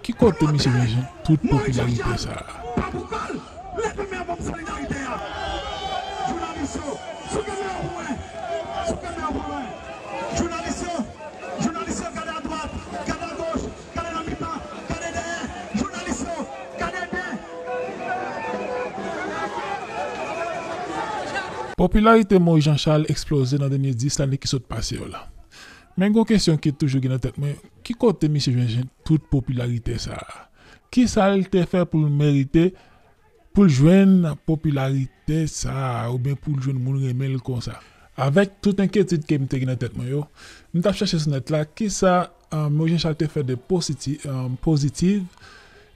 Ki kote misye te jwenn tout popilarite sa a? Popilarite Moise Jean Charles eksploze nan dènye 10 lane ki sot pase yo la. Men gon kesyon ki toujou gen nan tèt mwen, ki kote misye jwenn tout popilarite sa a? Kisa l te fè pou l merite pou l jwenn popilarite sa a oubyen pou l jwenn moun renmen l konsa? Avèk tout enkyetid ke m te gen nan tèt mwen yo, m t ap chèche sou nèt la kisa Mo Jechal te fè de pozitiv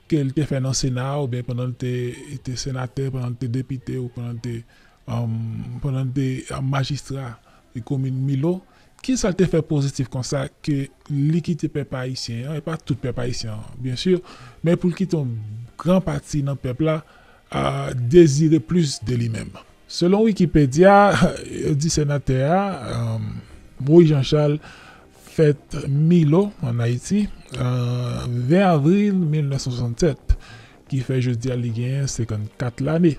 ke l te fè nan Sena a oubyen pandan l te senatè, pandan l te depite ou pandan l te. Pandan l te majistra komin Milo, ki sa l te fè pozitif konsa ke li kite pèp ayisyen an, e pa tout pèp ayisyen an byen si, men pou l kite yon gran pati nan pèp la dezire plis de li menm? Selon Wikipedya, yo di senatè a, Moïse Jean Charles, fèt Milo, ann Ayiti, 20 avril 1967, ki fè jodi a li genyen 54 lane.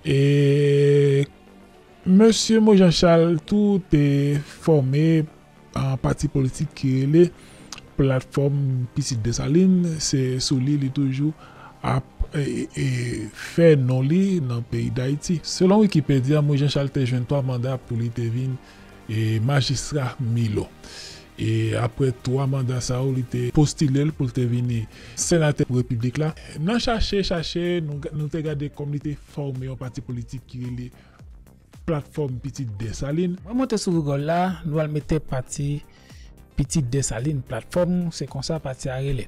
E Mesye Mo Jan Chal tou te fòme yon pati politik ki rele Platfòm Pitit Desalin, se sou li li toujou ap fè non li nan peyi Dayiti. Selon Wikipedya, Mo Jan Chal te jwenn twa manda pou li te vin e majistra Milo e aprè 3 manda sa yo li te postile l pou l te vini senatè pou repiblik la. Nan chache chache nou te gade kòm li te fòme yon pati politik ki rele Platfòm Pitit Desalin. Mwen monte sou rigòl la nou al mete pati Pitit Desalin Platfòm se konsa pati a rele.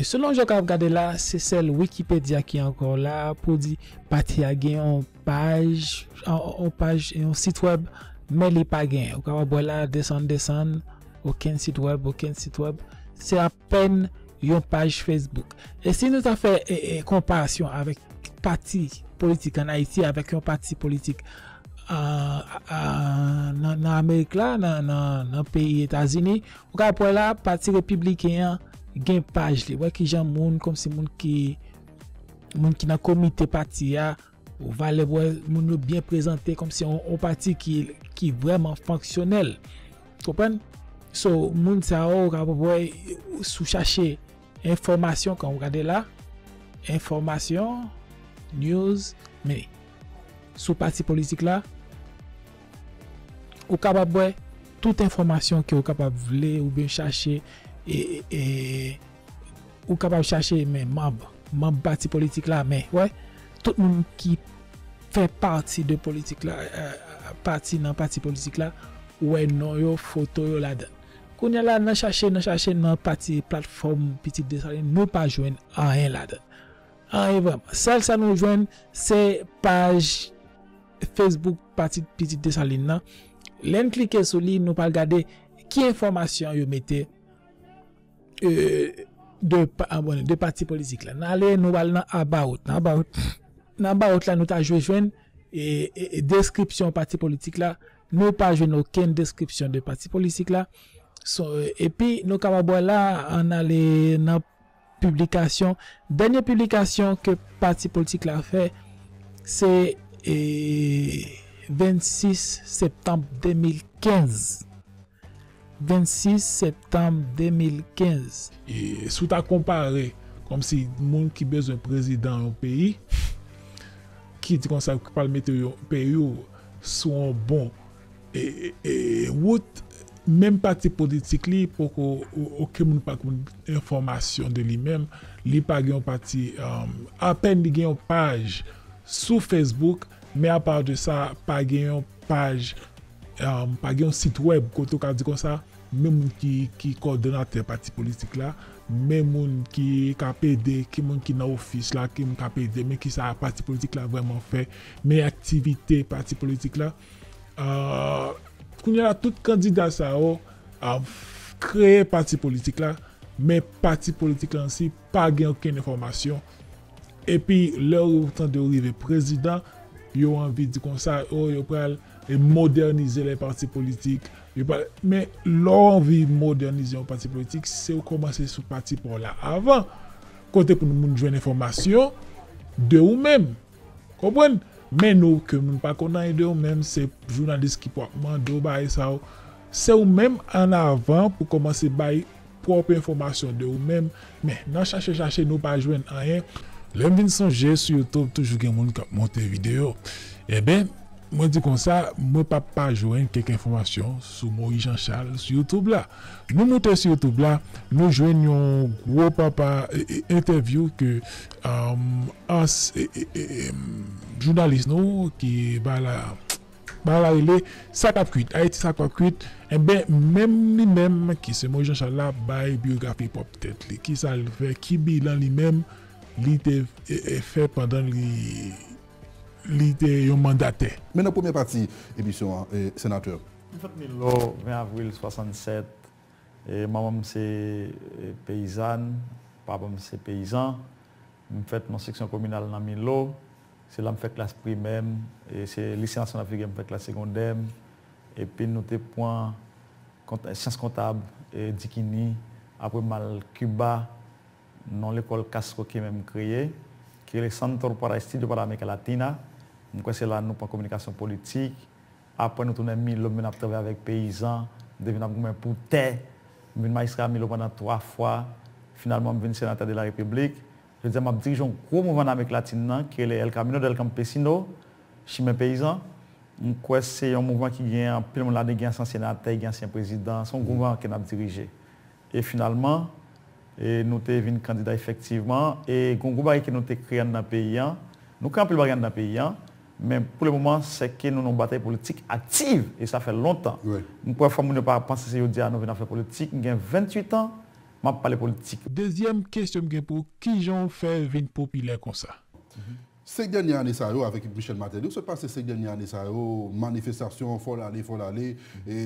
Selon jan w ka ap gade la se sèl Wikipedya ki ankò la pou di pati a gen yon paj, yon paj, yon sitwèb, men li pa gen, ou kapab wè la, desann, desann, okenn sitwèb, okenn sitwèb, se apèn yon paj Facebook. E si nou ta fè konparasyon avèk pati politik an Ayiti avèk yon pati politik nan Amerik la, nan peyi Etazini, ou kapab wè la, pati repibliken an gen paj li, wè kijan moun, kòmsi moun ki. moun ki nan komite pati a, ou va lè wè moun yo byen prezante kòm se yon pati ki vrèman fonksyonèl. Konprann? So, moun sa yo ou ka wè sou chache enfòmasyon kan ou gade la, enfòmasyon, news, men sou pati politik la, ou kapab wè tout enfòmasyon ke ou kapab vle ou byen chache e Ou kapab chache men manb, manb pati politik la men wè tout moun ki fè pati de politik la pati nan pati politik la ou wè non yo foto yo ladan l. Kounya la nan chache nan chache nan pati platfòm pitit Desalin nou pa jwenn anyen ladan l. Anyen vrèman. Sèl sa nou jwenn se paj Facebook pati pitit Desalin nan. Lè n klike sou li nou pral gade ki enfòmasyon yo mete. 2 pati politik la. N ale nou al nan about. Nan about la nou ta jwe jwenn deskripsyon pati politik la. Nou pa jwenn okenn deskripsyon de pati politik la. Epi nou kapab wè la an ale nan piblikasyon. Dènye piblikasyon ke pati politik la fè se 26 septanm 2015. 26 septanm 2015. Si w ta konpare kòm si moun ki bezwen prezidan yon peyi ki di konsa ki pral mete yon peyi w sou yon bon wout menm pati politik li poko okenn moun pa konn enfòmasyon de li menm li pa gen yon pati apèn li gen yon paj sou Facebook men apa de sa pa gen yon paj Pa gen yon sitwèb kote ou ka di konsa, men moun ki kòdonatè pati politik la, men moun ki k ap ede, ki moun ki nan ofis la, ki moun k ap ede, men ki sa pati politik la vrèman fè, men aktivite pati politik la. Kounye a la, tout kandida sa yo kreye pati politik la, men pati politik la ansi Pa gen okenn enfòmasyon. Epi lè yo tande yo rive prezidan, yo anvi di konsa, oh yo pral modènize lè pati politik, yo pral, men lè w anvi modènize yon pati politik, se w kòmanse sou pati pa w la avan. Kote pou moun jwenn enfòmasyon de ou menm. Konprann? Men nou ke moun pa konn anyen de ou menm, se jounalis ki pou ap mande w bagay sa yo. Se ou menm an avan pou kòmanse bay. pwòp enfòmasyon de ou menm, men nan chache chache nou pa jwenn anyen, lè m vin sonje sou youtube toujou gen moun k ap monte videyo, enben mwen di konsa mwen p ap pa jwenn kèk enfòmasyon sou Moyiz Janchal sou youtube la, nou moute sou youtube la nou jwenn yon gwo papa entèvyou ke ans jounalis nou ki ba la. Bagay la rele, sa k ap kuit. Ayiti sa k ap kuit. Enben, menm li menm ki se Moyiz Janchal la ap bay biyografi pwòp tèt li. Ki sa l fè? Ki bilan li menm li te fè pandan li te yon mandatè? Men nan premyè pati emisyon an, Senatè. M fèt Milò, 20 avril 67. Manman m se peyizàn, papa m se peyizan. M fèt nan seksyon kominal nan Milo. Se la m fè klas primè m. Se Lise Nasyonal Figuè m fè klas segondè m. Epi nou te pran syans kontab Dikini. Apre m al Kiba nan yon lekòl Castro ki menm kreye ki rele Centro para Estudio para America Latina. M kwè se la nou pran kominikasyon politik. Aprè nou tounen Milo, m vin ap travay avèk peyizan, m te vin ap goumen pou tè, m vin majistra Milo pandan 3 fwa, finalman m vin senatè de la Repiblik. Jodi a m ap dirije yon gwo mouvman nan Amerik Latin nan ki rele El Camino del Campesino, Chimen Peyizan. M kwè se yon mouvman ki gen anpil moun ladan l, gen ansyen senatè, gen ansyen prezidan, se yon gwo mouvman ke n ap dirije. E finalman, e nou te vin kandida efektivman, e gon gwo bagay ke nou te kreye anndan peyi an, nou kreye anpil bagay anndan peyi an, men pou le moman sè ke nou nan yon batay politik aktiv, e sa fè lontan. M kwè fò moun yo pa panse se jodi a nou vin ap fè politik, m gen 28 an, m ap pale politik. Dezyèm kesyon m gen pou w, kijan w fè vin popilè konsa? Senk dènyè ane sa yo avèk Michel Martelly, ou sot pase senk dènyè ane sa yo, manifestasyon, fò w ale, fò w ale, e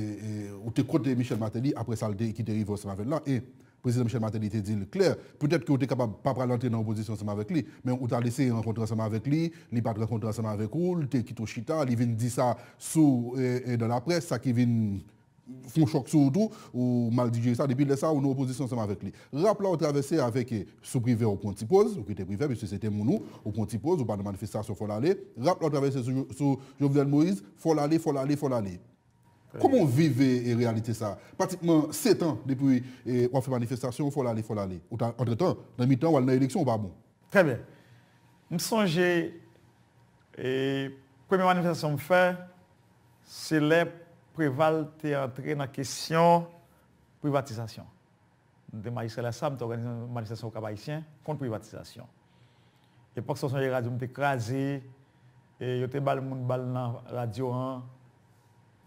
ou te kont Michel Martelly apre sa l ki te rive ansanm avè l lan, e Prezidan Michel Martelly te di l klè, petèt ke ou te kapab pa pral antre nan opozisyon ansanm avèk li, men ou t al eseye rankontre ansanm avèk li, li pa t rankontre ansanm avèk ou, li te kite w chita, li vin di sa sou dan laprès, sa ki vin. fon chòk sou ou tou, ou mal dijere sa, depi lè sa ou nan opozisyon ansanm avèk li. Rap la ou travèse avèk e, sou Privè ou pran ti poz, ou kite Privè piske se te moun ou, ou pran ti poz, ou pa nan manifestasyon fò l ale, rap la ou travèse sou sou Jovenel Moïse, fò l ale, fò l ale, fò l ale. Kòman ou viv e reyalite sa, pratikman 7 an depi e w ap fè manifestasyon fò l ale, fò l ale, ou ta antretan nan mitan ou al nan eleksyon ou pa bon. Trè byen. M sonje e premye manifestasyon m fè, Se lè Preval te antre nan kesyon privatizasyon. Mwen te majistra lè sa a, mwen te òganize yon manifestasyon Okap Ayisyen kont privatizasyon. Epòk sa a, w sonje radyo m te kraze, yo te bal moun bal nan radyo an.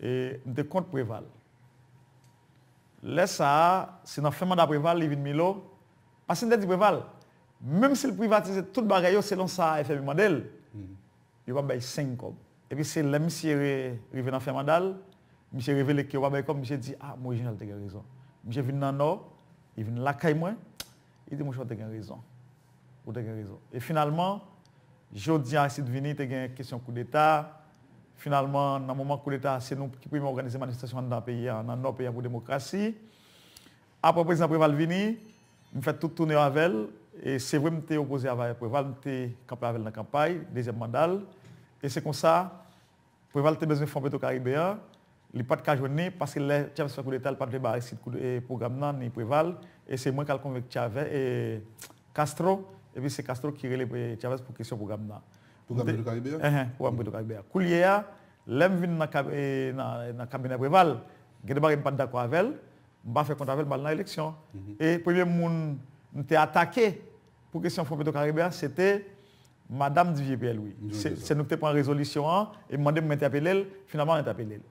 M te kont Preval. Lè sa a, se nan fen manda Preval li vin Milo, paske m te di Preval, menm si l privatize tout bagay yo selon sa FMI mande l, Yo pa bay seng kòb. Epi se lè misye rive nan fen manda l, misye revele ke yo pa bay kòb, misye di, ah, mwen wè jeneral te gen rezon. Misye vin nan Nò, li vin lakay mwen, li di mwen chè w te gen rezon. Ou te gen rezon. E finalman, jodi an Aristide vini, te gen kesyon koudeta, finalman nan moman koudeta a se nou ki premye òganize manifestasyon anndan peyi an, nan Nò peyi an pou demokrasi. Aprè prezidan Preval vini, m fè tout toune yo avè l. E se vre m te opoze avè Preval, m te kanpe avè l nan kanpay dezyèm manda l. E se konsa, Preval te bezwen Fon Petro Karibe an, li pa t ka jwenn li, paske lè Chavez fè koudeta, li pa t vle bay Aristide kou, e pwogram nan, ni Preval. E se mwen k al konvenk Chave, e, Castro, epi se Castro ki rele Chavez pou kesyon pwogram nan. Pwogram Petro Karibe a? Enhen, pwogram Petro Karibe a. Koulyeya, lè m vin nan, e, nan kabinè Preval, gen de bagay m pa t dakò avè l, M pa fè kont avè l m pa al nan eleksyon. E premye moun m te atake pou kesyon Fon Petwokaribe a se te Madam Didier Pierre Louis. Se nou ki te pran rezolisyon an e m mande pou m entèpele l, finalman m entèpele l.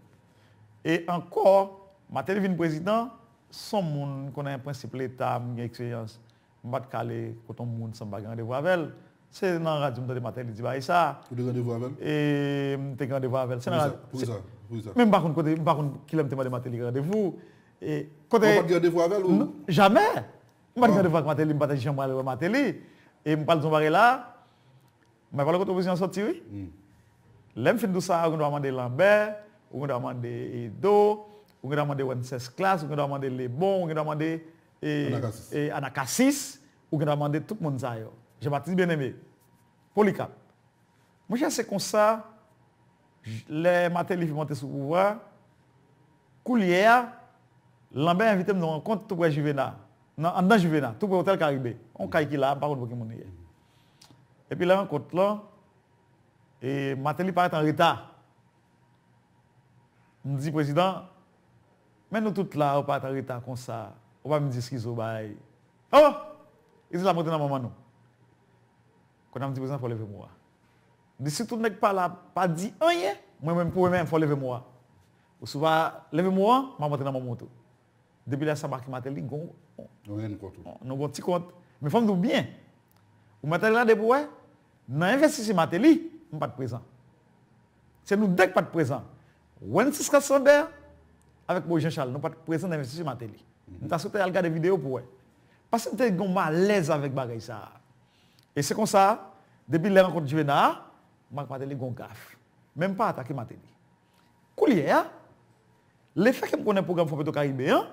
E ankò, Martelly vin prezidan, s on moun m konnen prensip leta, m gen eksperyans. M pa t ka ale kote yon moun san m pa gen randevou avè l. Se nan radyo m tande Martelly di bagay sa a. Ou te gen randevou avè l? E m te gen randevou avè l. Poukisa? Poukisa? Men m pa konn kote, m pa konn ki lè m te mande Martelly randevou. E kote. Ou pa t gen randevou avè l ou? Jamè! M pa t gen randevou ak Martelly, m pa t janm al wè Martelly. E m pral di w yon bagay la a, m bay pa w kote opozisyon an soti wi. Lè m fin di w sa a, ou gen dwa mande Lambert, ou gen dwa mande Edo, ou gen dwa mande Wencesclass, ou gen dwa mande Lebon, ou gen dwa mande e Anacasis ou gendwa mande tout moun sa yo. Jean-Baptiste Bien-Aimé, Polycarpe, Monchè se konsa lè Martelly fin monte sou pouvwa a, koulye a Lambert envite m nan yon rankont tou prè Juvena, nan anndan Juvena, tou prè Hotel Caribe, yon kay ki la, m pa konn pou ki moun li ye. Epi lè rankont lan, e Martelly parèt an reta. M di prezidan, Men nou tout la ou pat anreta konsa ou pa vin di skizo bay oh Islam rete nan manman nou Kòne ap di prezan fò leve mwa Di sitou nèg pa la pa di anyen mwen menm pou mwen menm fò leve mwa ou si ou pa leve mwa map antre nan manman w tou depi lè sa Marcky Martelly gon nou gon ti kont men fòm di w byen ou mèt ale gade pou wè nan envestisy Martelly m pat prezan se nou 2 k pat prezan Wences Casander avèk Moïse Jean Charles nou pat prezan nan envestiture Martelly. M ta swete al gade video pou wè. Pase m te gen yon malèz avèk bagay sa a. E se konsa, depi lè rankont Duvena a, m ak Martelly gen yon gaf. Men m pa atake Martelly. Koulye a, lefè ke m konnen pwogram Fò Petro Karibe an,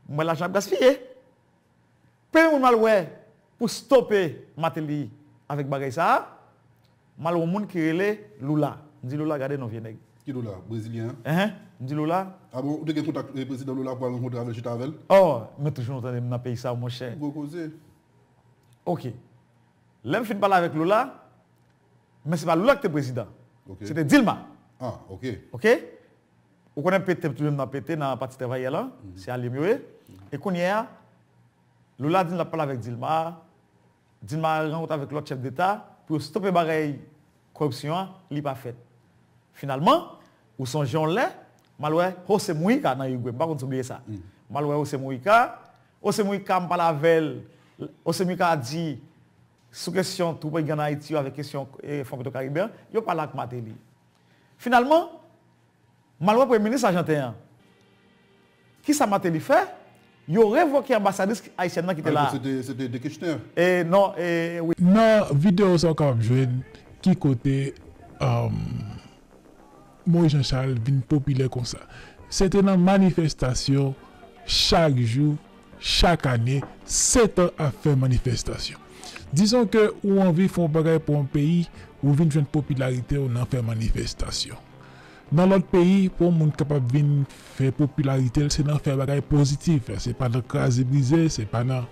m wè lajan ap gaspiye. Pè moun mal wè pou stope mateli avek bagay sa a mal wè moun ki rele lula m di lula gade non vye nèg. Ki lula? Brezilyen an? Enhen m di lula. A bon ou te gen kontak prezidan lula pou al rankontre avèl chita avèl? Oh mwen toujou nan tande m nan peyi sa a monchè. Gwo koze. Ok lè m fin pale avèk lula men se pa lula ki te prezidan se te dilma. Ah ok. Ok Ou konnen pete m toujou nan pete nan pati travayè lan, se alye m yo ye. E kounye a, Lula di l ap pale avèk Dilma, Dilma rankontre avèk lòt chèf deta pou yo stope bagay koripsyon an, li pa fèt. Finalman, ou sonje yon lè, m al wè Jose Mujica nan Irigwe, m pa konn si w bliye sa. M al wè Jose Mujica, Jose Mujica m pale avè l, Jose Mujica di sou kesyon twoup gang nan Ayiti yo avèk kesyon Fon Petro Karibe an, yo pale ak Martelly. Finalman, m al wè premye minis ajanten an. Ki sa Martelly fè? Yo revoke anbasadris ayisyèn nan ki te la a. E non, e wi. Nan videyo sa ou kapab jwenn ki kote Moïse Jean Charles vin popilè konsa. Se te nan manifestasyon chak jou Chak ane, 7 an ap fè manifestasyon. Dizon ke ou anvi fè yon bagay pou yon peyi, ou vin jwenn popilarite w nan fè manifestasyon. Nan lòt peyi, pou yon moun kapab vin fè popilarite l, se nan fè bagay pozitif. Se pa nan kraze brize, se pa nan,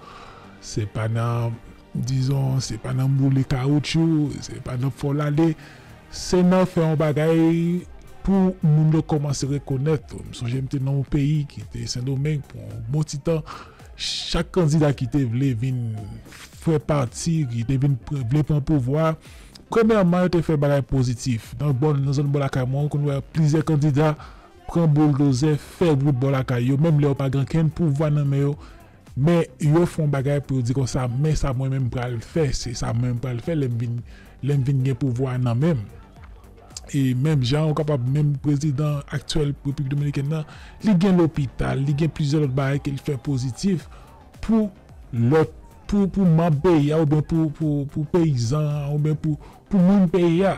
se pa nan. Dizon, se pa nan boule kawoutchou, se pa nan fè w lale, se nan fè yon bagay pou moun yo kòmanse rekonèt ou. M sonje m te nan yon peyi ki te Sendomeng pou yon bon ti tan, chak kandida ki te vle vin fè pati, ki te vin vle pran pouvwa, premyèman yo te fè bagay pozitif. Nan bò, nan zòn bò lakay mwen, ou konn wè plizyè kandida pran bouldozè fè wout bò lakay yo, menm lè yo pa gen okenn pouvwa nan men yo. Men yo fon bagay pou yo di konsa men sa mwen menm pral fè se sa mwen menm pral fè lèm vin lèm vin gen pouvwa nan menm e menm jan ou kapab menm prezidan aktyèl repiblik dominikèn nan li gen lopital li gen plizyè lòt bagay ke li fè pozitif pou lòt pou pou manb peyi a oubyen pou pou pou peyizan an oubyen pou pou moun peyi a.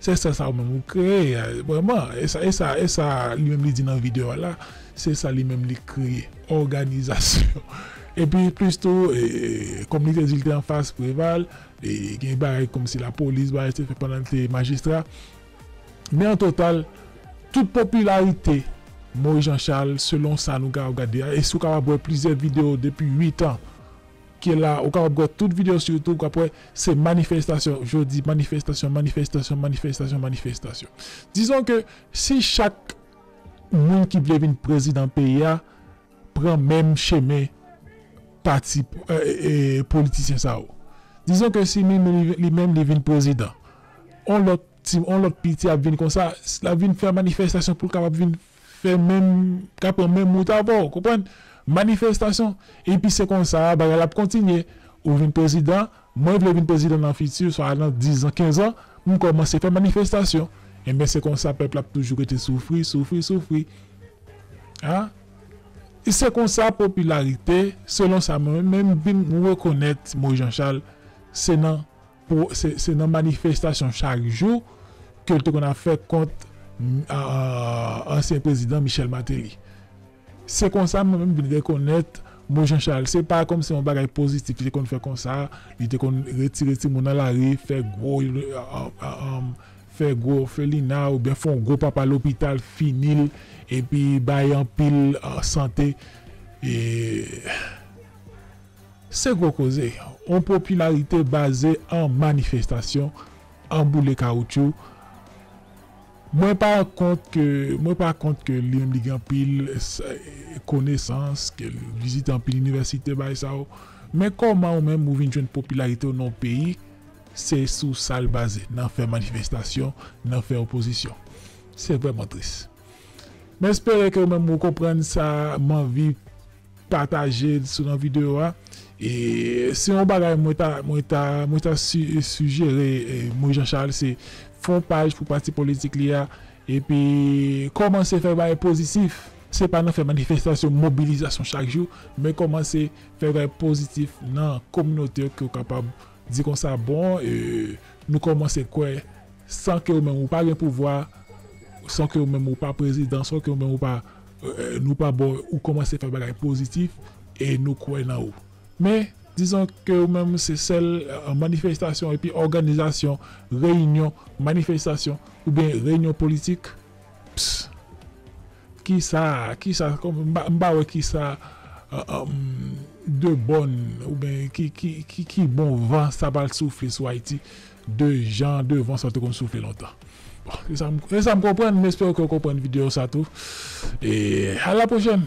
Se sa sa ou menm ou kreye a vrèman e sa e sa e sa li menm li di nan video a la se sa li menm li kreye òganizasyon epi plis tou e kòm li te di li te anfas Preval e gen bagay kòmsi lapolis bagay te fè pandan li te majistra men an total tout popilarite Moyiz Janchal selon sa nou ka ap gade a e si ou kapab wè plizyè video depi 8 an Ke la ou kapab wè tout video sou youtube wap wè se manifestasyon jodi manifestasyon manifestasyon manifestasyon manifestasyon dizon ke si chak moun ki vle vin prezidan peyi a pran menm chemen pati politisyen sa yo dizon ke si ni menm li menm li vin prezidan on lòt ti on lòt piti ap vin konsa lap vin fè manifestasyon poul kapab vin fè menm ka pran menm wout avè w konprann manifestasyon epi se konsa bagay la ap kontinye ou vin prezidan mwen vle vin prezidan nan fiti swa nan dizan kenzan m kòmanse fè manifestasyon enben se konsa pèp la ap toujou rete soufri soufri soufri a e se konsa popilarite selon sa mwen menm vin rekonèt mo Jan Chal se nan. Se nan manifestasyon chak jou ke l te konn ap fè kont ansyen prezidan Michel Martelly. Se konsa mwen menm vin rekonèt mo Jean Charles. Se pa kòmsi yon bagay pozitif li te konn fè konsa, li te konn retire timoun nan lari, fè gwo fè gwo òfelina oubyen fè yon gwo papa lopital, fini l epi bay anpil sante. Se gwo koze, yon popilarite baze an manifestasyon, an boule kawoutchou. Mwen pa kont ke, mwen pa kont ke li menm li gen anpil konesans, ke li vizite anpil inivèsite bagay sa yo. Men kòman ou menm ou vin jwenn popilarite w nan yon peyi, se sou sa l baze, nan fè manifestasyon, nan fè opozisyon. Se vrèman tris. M espere ke ou menm ou konprann sa m anvi. Patajel sou nan video a. E se yon bagay mwen ta mwen ta mwen ta si sijere Moise Jean Charles se fon paj pou pati politik li a epi kòmanse fè bagay pozitif se pa nan fè manifestasyon mobilizasyon chak jou men kòmanse fè bagay pozitif nan kominote w ke w kapab di konsa bon nou kòmanse kwè san ke w menm ou pa gen pouvwa san ke w menm ou pa prezidan san ke w menm ou pa Nou pa bò ou kòmanse fè bagay pozitif e nou kwè nan ou. Men, dizon ke ou menm se sèl manifestasyon epi òganizasyon, reyinyon, manifestasyon oubyen reyinyon politik, pss. Kisa, kisa, m pa wè kisa de bòn oubyen ki bon van sa pral soufle sou Ayiti. 2 jan devan sa te konn soufle lontan bon se sam se sam konprann m espere ke w konprann video sa tou e a la prochèn.